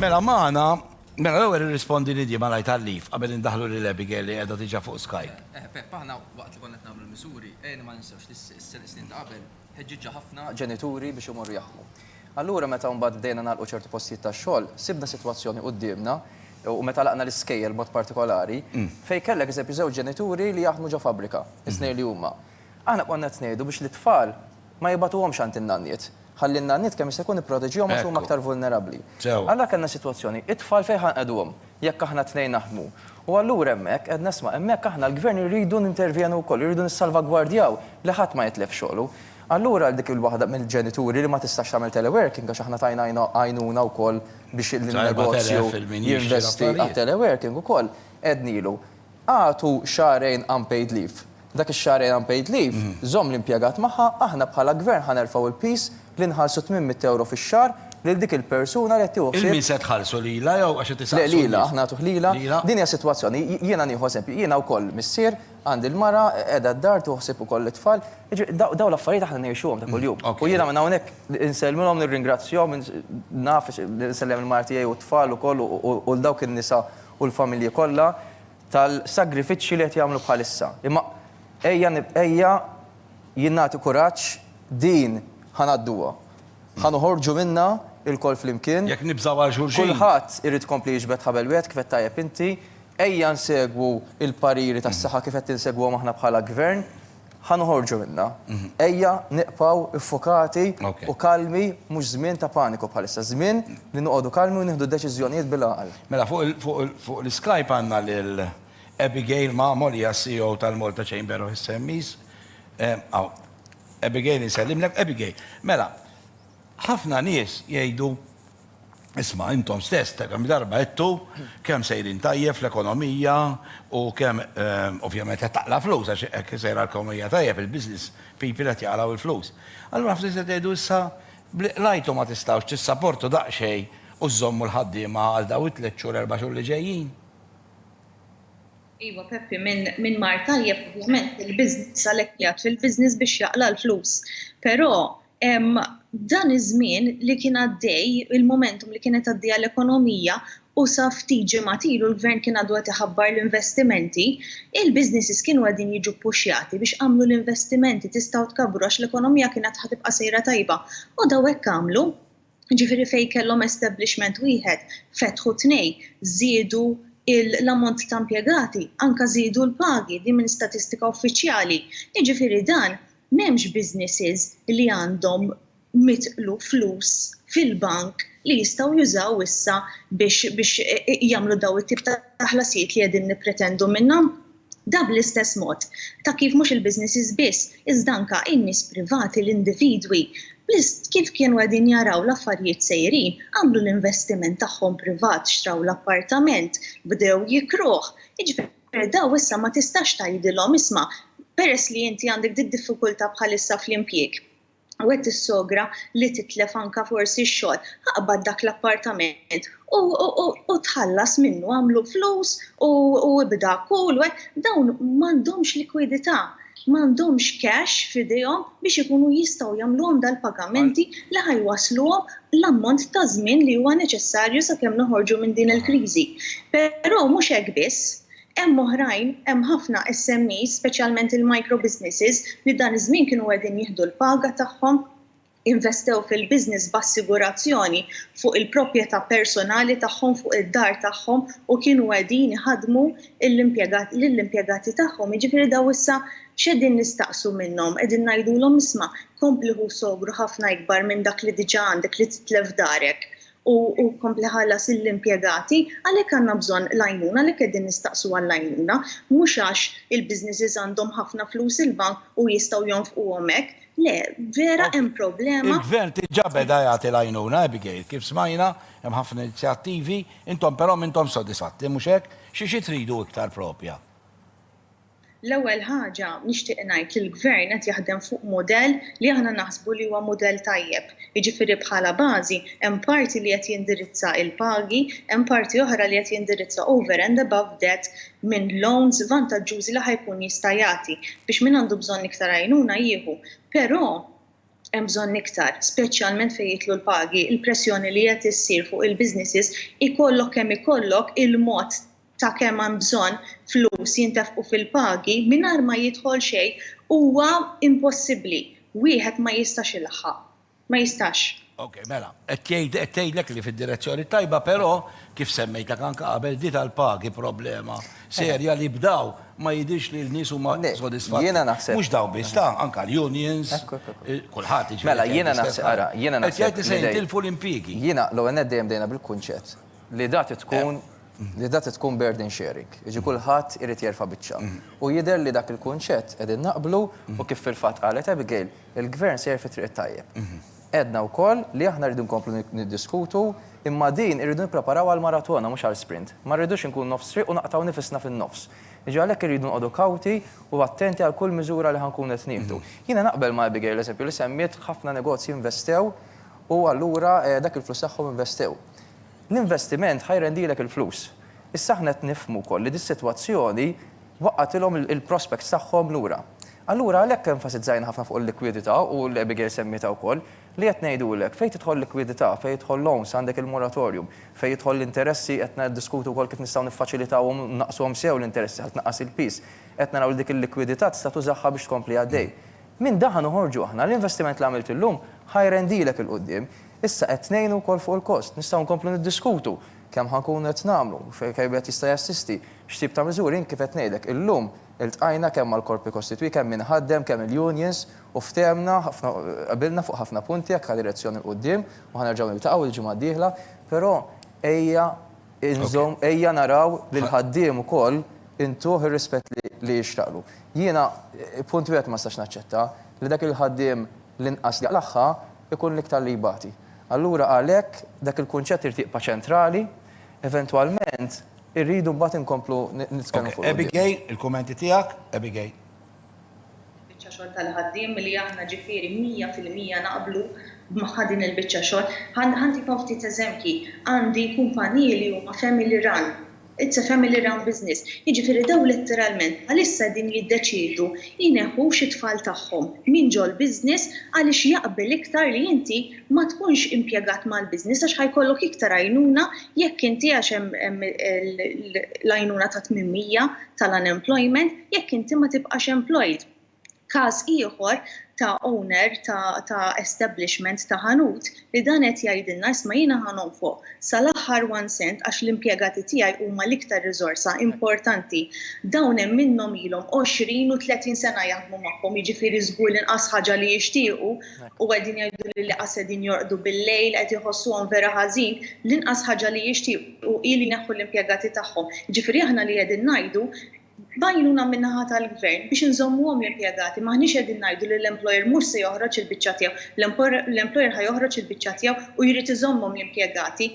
Mela maħna, mela l-ewwel irrispondi li di ma lajt għallif qabel indaħlu li l-Abigail li qiegħda diġà fuq Skype. Eh, eh, Pep, aħna waqt li konna qed nagħmlu l-miżuri, ejna ma ninsewx li s-snin ta' qabel ħeġġiġġa ħafna ġenituri biex imorru jaħdmu. Allura meta mbagħad bdejna nagħlqu ċertu postijiet tax-xogħol, sibna sitwazzjoni quddiemna u meta laqna l-iskejjel mod partikolari, mm. fejn kellek eżempju żewġ ġenituri li jaħdmu ġo fabbrika, is-snej mm-hmm. li huma. Aħna konna qed ngħidu biex lit-tfal ma jibagħtuhomx għand in-nanniet, ħalli n-nanniet kemm jista' jkun ipproteġihom għax huma aktar vulnerabbli. Allura kellna sitwazzjoni, it-tfal fejn ħa nqegħduhom jekk aħna t-tnejn naħdmu? U allura hemmhekk għedna isma' hemmhekk aħna l-Gvern irridu nintervjenu wkoll, irridu nissalvagwardjaw li ħadd ma jitlef xogħlu. Allura għal dik il-waħda mill-ġenituri li ma tistax tagħmel teleworking għax aħna tajna għajnuna wkoll biex in-negozju jinvesti għat-teleworking ukoll, għednilu, Agħtu xahrejn unpaid leave. Dak ix-xahrejn unpaid leave żomm l-impjegat magħha, aħna bħala Gvern ħa nerfgħu l-piż li nħallsu tmien mitt ewro fix-xahar lil dik il-persuna li qed tieħu ħsieb. Lil min se tħallsu, lilha jew għax qed isaqsu n-nies? Le, lilha, aħna nagħtuh lilha. Din hija sitwazzjoni, jiena nieħu eżempju, jiena wkoll missier, għandi l-mara, qiegħda d-dar, tieħu ħsieb ukoll it-tfal, jiġifieri dawn l-affarijiet aħna ngħixuhom ta' kuljum. U jiena minn hawnhekk insellmilhom, nirringrazzjahom, naf, insellem il-mara tiegħi u t-tfal ukoll u 'l dawk in-nisa u l-familji kollha tal-sagrifiċċji li qed jagħmlu bħalissa. Imma ejja ejja jien nagħti kuraġġ din ħa ngħadduha. Ħa noħorġu minnha ilkoll flimkien. Jekk nibżgħu għal xulxin. Kulħadd irid ikompli jiġbed ħabel wieħed kif għedt tajjeb inti. Ejja nsegwu l-pariri tas-saħħa kif qed insegwuhom aħna bħala Gvern. Ħa noħorġu minnha. Ejja nibqgħu ffukati u kalmi, mhux żmien ta' paniku bħalissa, żmien li noqogħdu kalmi u nieħdu deċiżjonijiet bil-għaqal. Mela fuq l-Skype għandna lil Abigail Mamo li hija CEO tal-Malta Chamber of SMEs. Hawn. Abigail insellimlek. Abigail, mela ħafna nies jgħidu Isma', intom stess ta' kemm-il darba għedtu kemm sejrin tajjeb fl-ekonomija u kemm, ovvjament, qed taqla' flus għax hekk sejra l-ekonomija tajjeb, il-business people qed jaqlgħu il-flus. Allura ftit se tgħidu issa b'li qlajtu ma tistgħux tissaportu daqsxejn u żżommu l-ħaddiema għal dawn it-tliet xhur, erba' xhur li ġejjin? Iva, Peppi, min mar tajjeb, ovvjament, il-business għalhekk qiegħed fil-business biex jaqla' l-flus. Però, Dan iż-żmien li kien għaddej, il-momentum li kienet għaddejja l-ekonomija u sa ftit ġimgħat ilu l-Gvern kien għadu qed iħabbar l-investimenti, il-businesses kienu qegħdin jiġu ppuxjati biex agħmlu l-investimenti, tistgħu tkabbru għax l-ekonomija kienet ħa tibqa' sejra tajba. U daw hekk għamlu. Jiġifieri fejn kellhom establishment wieħed fetħu tnejn, żiedu l-ammont ta' impjegati, anke żiedu l-pagi, din minn statistika uffiċjali. Jiġifieri dan m'hemmx businesses li għandhom mitlu flus fil-bank li jistgħu jużaw issa biex jagħmlu dawn it-tip ta' ħlasijiet li qegħdin nippretendu minnhom. Dan bl-istess mod ta' kif mhux il-businesses biss iżda anke in-nies privati, l-individwi, kif kienu qegħdin jaraw l-affarijiet sejrin, għamlu l-investiment tagħhom privat, xtraw l-appartament, bdew jikruh, jiġifieri dawn issa ma tistax tgħidilhom isma' peress li inti għandek did-diffikultà bħalissa fl-impjieg, u qed tissogra li titlef anke forsi x-xogħol, aqbad dak l-appartament u tħallas minnu, għamlu flus u ibda' kull wieħed, dawn m'għandhomx likwidità, m'għandhomx cash f'idejhom biex ikunu jistgħu jagħmluhom dal-pagamenti li ħa jwassluhom l-ammont ta' żmien li huwa neċessarju sakemm noħorġu minn din il-kriżi. Però mhux hekk biss, Hemm oħrajn, hemm ħafna SMEs, speċjalment il-micro businesses, li dan iż-żmien kienu qegħdin jieħdu l-paga tagħhom, investew fil-business b'assigurazzjoni fuq il-proprjetà personali tagħhom, fuq id-dar tagħhom u kienu qegħdin iħaddmu lill-impjegati tagħhom. Jiġifieri dawn issa x'qegħdin nistaqsu minnhom? Qegħdin ngħidulhom isma', kompli ħu sogru ħafna ikbar minn dak li diġà għandek li titlef darek u hu kompli iħallas lill-impjegati, għalhekk għandna bżonn l-għajnuna, għalhekk qegħdin nistaqsu għall-għajnuna, mhux għax il-businesses għandhom ħafna flus il-bank u jistgħu jonfquhom hekk. Le, vera hemm problema. Il-Gvern diġà beda jagħti l-għajnuna, Abigail. Kif smajna, hemm ħafna inizjattivi, intom però m'intomx sodisfatti, mhux hekk? Xi xi tridu iktar proprja? L-ewwel ħaġa nixtieq ngħid li l-Gvern qed jaħdem fuq mudell li aħna naħsbu li huwa mudell tajjeb. Jiġifieri bħala bażi hemm parti li qed jindirizza l-pagi, hemm parti oħra li qed jindirizza over and above debt minn loans vantaġġużi li ħa jkun jista' jagħti biex min għandu bżonn iktar għajnuna jieħu. Però hemm bżonn iktar, speċjalment fejn jidħlu l-pagi, il-pressjoni li qed issir fuq il-businesses ikollok kemm ikollok il-mod ta' kemm hemm bżonn flus jintefqu fil-pagi mingħajr ma jidħol xejn huwa impossibbli. Wieħed ma jistax ilaħħaq. Ma jistax. Ok, mela, qed jgħid, qed tgħidlek li fid-direzzjoni t-tajba però, kif semmejtlek anke qabel, di tal-pagi problema serja li b'daw ma jidhirx li l-nies huma sodisfatti. Jiena naħseb. Mhux daw biss, ta, anke l-unions, kulħadd jiġifieri. Mela, jiena naħseb, ara, jiena naħseb. Qed jgħid li se jintilfu l-impjiegi. Jiena, l-ewwel nett dejjem bdejna bil-kunċett. li da trid tkun li da trid tkun burden sharing, jiġifieri kulħadd irid jerfa' biċċa. U jidher li dak il-kunċett qegħdin naqblu u kif fil-fatt qalet Abigail, il-Gvern sejjer fit-triq it-tajjeb. Għedna wkoll li aħna rridu nkomplu niddiskutu imma din irridu nippreparaw għal maratona mhux għal sprint. Ma rridux inkunu nofs triq u naqtgħu nifisna fin-nofs. Jiġifieri għalhekk irridu noqogħdu kawti u attenti għal kull miżura li ħa nkunu qed nieħdu. Jiena naqbel ma' Abigail, eżempju, li semmiet ħafna negozji investew u allura dak il-flus tagħhom investew. L-investiment ħa jrendilek il-flus. Issa aħna qed nifhmu wkoll li dis-sitwazzjoni waqqagħtilhom il-prospects tagħhom lura. Allura għalhekk enfasizzajna ħafna fuq il-likwidità u Abigail semmietha wkoll, li qed ngħidulek fejn tidħol likwidità, fejn jidħol loans għandek il-moratorium, fejn jidħol l-interessi qed niddiskutu wkoll kif nistgħu niffaċilitawhom u nnaqqsuhom sew l-interessi ħalli tnaqqas il-piż. Qed naraw li dik il-likwidità tista' tużaha biex tkompli għaddej. Minn dan ħa noħorġu aħna. L-investiment li għamilt illum ħa jrendilek 'il quddiem. Issa qed ngħinu wkoll fuq il-kost. Nistgħu nkomplu niddiskutu kemm ħa nkunu qed nagħmlu, kemm wieħed jista' jassisti, x'tip ta' miżuri. Jien kif qed ngħidlek, illum iltqajna kemm mal-korpi kostitwiti, kemm min iħaddem, kemm il-unions u ftehemna ħafna, qbilna fuq ħafna punti jekk ħa direzzjoni 'l quddiem u ħa nerġgħu niltaqgħu l-ġimgħa d-dieħla. Però ejja. Inżomm, ejja naraw lill-ħaddiem ukoll intuh ir-rispett li jixraqlu. Jiena punt wieħed ma nistax naċċetta, li dak il-ħaddiem l-inqas li jaqlagħha jkun l-iktar li jbati. Allura għalhekk dak il-kunċett irid jibqa' ċentrali, eventwalment irridu mbagħad inkomplu nitkellmu fuq quddiem. Abigail, il-kummenti tiegħek, Abigail. Il-biċċa xogħol tal-ħaddiem li aħna ġifieri mija fil-mija naqblu magħha din il-biċċa xogħol. Ħa ntikom ftit eżempji, għandi kumpaniji li huma family run, it's a family run business, jiġifieri dawn letteralment bħalissa qegħdin jiddeċiedu jneħħux it-tfal tagħhom minn ġol-business għaliex jaqbel iktar li inti ma tkunx impjegat mal-business għax ħa jkollok iktar għajnuna jekk inti għax hemm l-għajnuna ta' tmien mija tal-unemployment jekk inti ma tibqax employed. Każ ieħor ta' owner ta' establishment ta' ħanut li dan qed jgħidilna isma' jiena ħa nonfoq sal-aħħar one cent għax l-impjegati tiegħi huma l-iktar riżorsa importanti. Dawn hemm minnhom ilhom għoxrin u tletin sena jaħdmu magħhom jiġifieri żgur l-inqas ħaġa li jixtiequ u qegħdin jgħiduli li qas qegħdin jorqdu bil-lejl, qed iħossuhom vera ħażin, l-inqas ħaġa li jixtiequ hi li jneħħu l-impjegati tagħhom. Jiġifieri aħna li qegħdin ngħidu, b'għajnuna min-naħa tal-Gvern, biex inżommuhom l-impjegati, m'aħniex qegħdin ngħidu li l-employer mhux se joħroġ il-biċċa tiegħu. L-employer ħa joħroġ il-biċċa tiegħu u jrid iżommhom l-impjegati.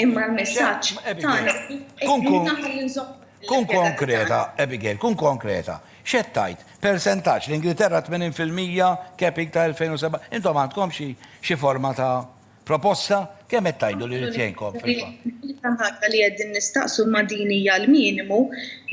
Imma l-messaġġ tagħna Kun konkreta, Abigail, kun konkreta. X'qed tgħid? Persentaġġ l-Ingilterra 80% capping ta' 2007. Intom għandkom xi xi forma ta' proposta? Kemm qed tgħidu li jrid jgħinkom fil-fatt? L-unika ħaġa li qegħdin nistaqsu ma' din hija l-minimu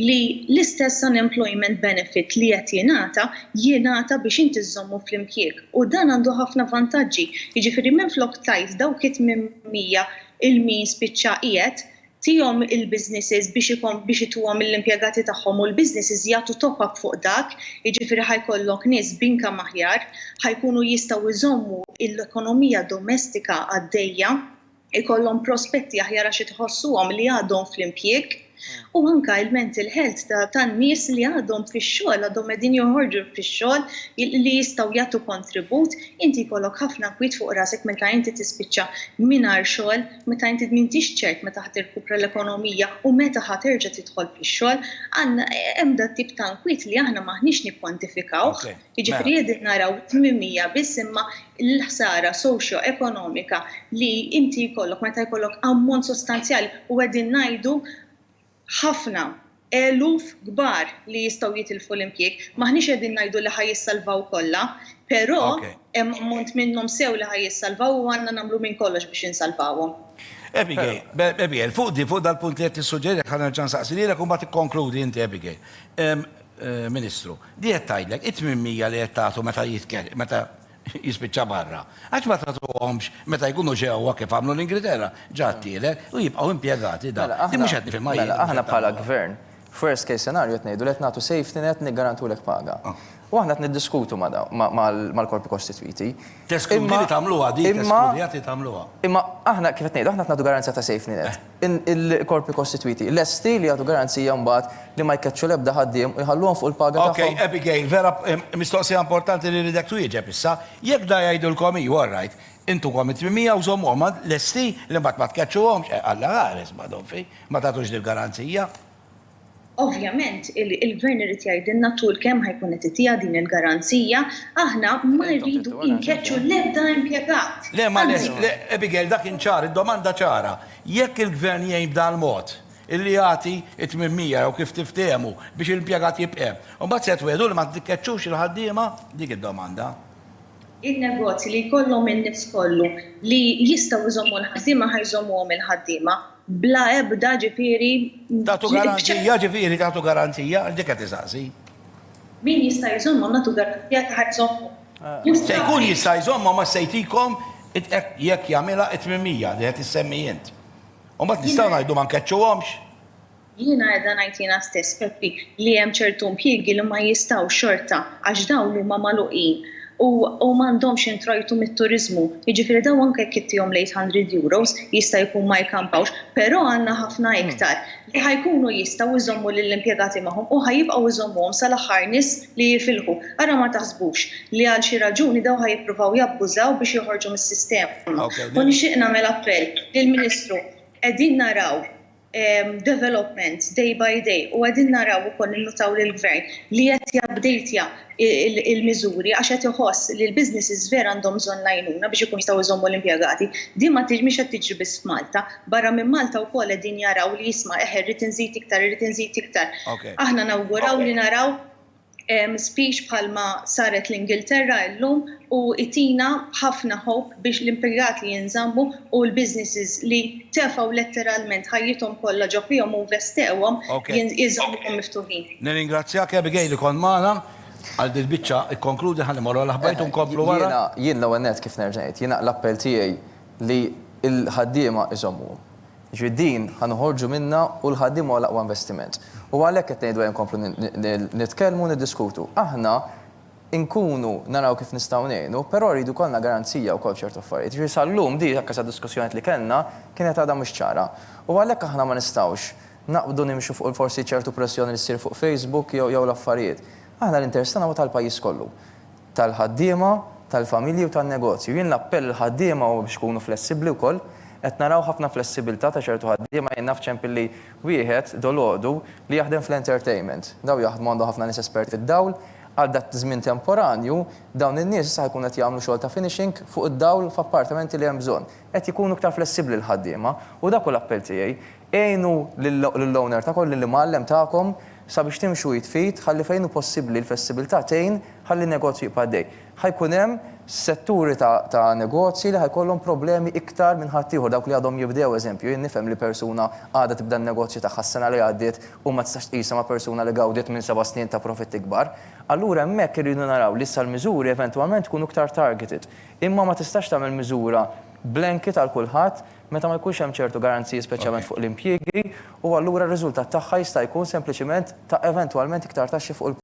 li l-istess unemployment benefit li qed jingħata, jingħata biex inti żżommu fl-impjieg. U dan għandu ħafna vantaġġi. Jiġifieri minflok tgħid dawk it-tmienmija 'il min spiċċa qiegħed, tihom il-businesses biex ikon biex ituhom lill-impjegati tagħhom u l-businesses jagħtu top up fuq dak, jiġifieri ħa jkollok nies b'income aħjar, ħa jkunu jistgħu jżommu l-ekonomija domestika għaddejja. ikollhom prospetti aħjar għax itħossuhom li għadhom fl-impjieg u anke il-mental health tan-nies li għadhom fix-xogħol, għadhom qegħdin joħorġu fix-xogħol li jistgħu jagħtu kontribut, inti jkollok ħafna kwiet fuq rasek meta inti tispiċċa mingħajr xogħol, meta inti m'intix ċert meta ħa tirkupra l-ekonomija u meta ħa terġa' tidħol fix-xogħol. Għandna hemm dat-tip ta' nkwiet li aħna m'aħniex nikkwantifikawh. Jiġifieri qegħdin naraw tmimija biss imma l-ħsara soċjoekonomika li inti jkollok meta jkollok ammont sostanzjali u qegħdin ngħidu ħafna eluf kbar li jistgħu jitilfu l-impjieg. M'aħniex qegħdin ngħidu li ħa jissalvaw kollha, però hemm ammont minnhom sew li ħa jissalvaw u għandna nagħmlu minn kollox biex insalvawhom. Abigail, Abigail, fuq di, fuq dal-punt li qed tissuġġeri, ħa nerġa' nsaqsi lilek u mbagħad ikkonkludi inti Abigail. Ministru, di qed tgħidlek, it-tmien mija li qed tagħtu meta meta jispiċċa barra, għax ma tagħtuhomx meta jkunu ġewwa kif għamlu l-Ingriterra, ġa t-tielet, u jibqgħu impjegati da. Mela, aħna. Di mhux qed nifhimha jien. Mela, aħna bħala Gvern, f'worst case scenario qed ngħidu li qed nagħtu safety net niggarantulek paga. U aħna qed niddiskutu ma' dawn, mal-korpi kostitwiti. Teskludi li tagħmluha di, teskludi li tagħmluha. Imma aħna, kif qed ngħidu, aħna qed nagħtu garanzija ta' safety net. il-korpi kostitwiti lesti li jagħtu garanzija mbagħad li ma jkeċċu l-ebda ħaddiem u jħalluhom fuq il-paga tagħhom. Okej, Abigail, vera mistoqsija importanti li rridek twieġeb issa. Jekk da jgħidilkom hi, all right, intukom it-800 u żommuhom lesti li mbagħad ma tkeċċuhomx, Alla ħares, Madonn fik, ma tagħtux dil-garanzija. Ovvjament, il-Gvern irid jgħidilna tul kemm ħa jkun qed itiha din il-garanzija, aħna ma rridu inkeċċu l-ebda impjegat, anzi. Le, Abigail, dak kien ċar, id-domanda ċara. Jekk il-Gvern jgħin b'dal-mod, illi jagħti t-tmienmija jew kif tiftehmu biex l-impjegat jibq' hemm, imbagħad se twiegħdu li ma tikkeċċux il-ħaddiema? Dik id-domanda. In-negozji li jkollhom in-nies kollu li jistgħu jżommu l-ħaddiema ħa jżommuhom il-ħaddiema. Bla ebda, ġifieri, b'ċertezza. Tagħtu garanzija, ġifieri, tagħtu garanzija, għax dik qed isaqsi. Min jista' jżommhom, nagħtu garanzija ta' ħa jżommhom. Se jkun jista' jżommhom għax se jtikom jekk jagħmilha t-tmimija li qed issemmi int. U mbagħad nistgħu ngħidu ma nkeċċuhomx? Jiena qiegħda ngħid jiena stess, Peppi, li hemm ċertu impjiegi li ma jistgħux xorta għax dawn huma magħluqin u u m'għandhomx introjtu mit-turiżmu. Jiġifieri dawn anke jekk ittihom l-eight hundred euros jista' jkun ma jkampawx, però għandna ħafna iktar li ħa jkunu jistgħu jżommu lill-impjegati magħhom u ħa jibqgħu jżommuhom sal-aħħar nies li jifilħu. Ara ma taħsbux li għal xi raġuni dawn ħa jippruvaw jabbużaw biex joħorġu mis-sistema. U nixtieq nagħmel appell lill-Ministru, qegħdin naraw developments day by day u qegħdin naraw ukoll ninnutaw li l-Gvern li qed jabdejtja il-miżuri għax qed iħoss li l-businesses vera għandhom bżonn l-għajnuna biex ikun jistgħu jżommu l-impjegati. Din ma mhix qed tiġri biss f'Malta. Barra minn Malta wkoll qegħdin jaraw li jisma' eħe rrid inżid iktar, irrid inżid iktar. Aħna nawguraw li naraw speech bħalma saret l-Ingilterra illum u itina ħafna hope biex l-impigat li jinżammu u l-businesses li tefgħu letteralment ħajjithom kollha ġo fihom u investewhom jinżammuhom miftuħin. Nirringrazzjak Abigail li kont magħna għal din il-biċċa, ikkonkludi ħalli mmorru għall-aħbarijiet u nkomplu wara. Jiena, jien l-ewwel nett kif nerġa' ngħid, jiena l-appell tiegħi li l-ħaddiema iżommuhom. Jiġifieri din ħa noħorġu minnha u l-ħaddiema huwa l-aqwa investiment. U għalhekk qed ngħidu ejja nkomplu nitkellmu u niddiskutu. Aħna nkunu naraw kif nistgħu ngħinu, però jridu jkollna garanzija wkoll f'ċertu affarijiet. Jiġifieri sal-lum din anke sad-diskussjonijiet li kellna kienet għadha mhux ċara. U għalhekk aħna ma nistgħux naqbdu nimxu fuq forsi ċertu pressjoni li ssir fuq Facebook jew jew l-affarijiet. Aħna l-interess tagħna huwa tal-pajjiż kollu. tal-ħaddiema, tal-familji u tan-negozju. Jien l-appell lill-ħaddiema huwa biex ikunu flessibbli wkoll. Qed naraw ħafna flessibilità ta' ċertu ħaddiema. Jien naf ċempilli wieħed dolodu li jaħdem fl-entertainment. Dawn jaħdmu għandhom ħafna nies esperti fid-dawl. Għal dak żmien temporanju, dawn in-nies issa ħa jkunu qed jagħmlu xogħol ta' finishing fuq id-dawl f'appartamenti li hemm bżonn. Qed jkunu iktar flessibbli l-ħaddiema u dak hu l-appell tiegħi. Għinu lill-owner tagħkom, lill-imgħallem tagħkom sabiex timxu id f'id ħalli fejn hu possibbli l-flessibilità tgħin ħalli n-negozju jibqa' għaddej. Ħa jkun hemm setturi ta' negozji li ħa jkollhom problemi iktar minn ħaddieħor, dawk li għadhom jibdew, eżempju, jien nifhem li persuna għadha tibda n-negozju tagħha s-sena li għaddiet u ma tistax tqisha ma' persuna li gawdiet minn seba' snin ta' profitti kbar. Allura hemmhekk irridu naraw li issa l-miżuri eventwalment ikunu iktar targeted. Imma ma tistax tagħmel miżura blanket għal kulħadd Meta ma jkunx hemm ċertu garanziji speċjalment fuq l-impjiegi u allura r-riżultat tagħha jista' jkun sempliċement ta' eventwalment iktar taxxi fuq il-profitti.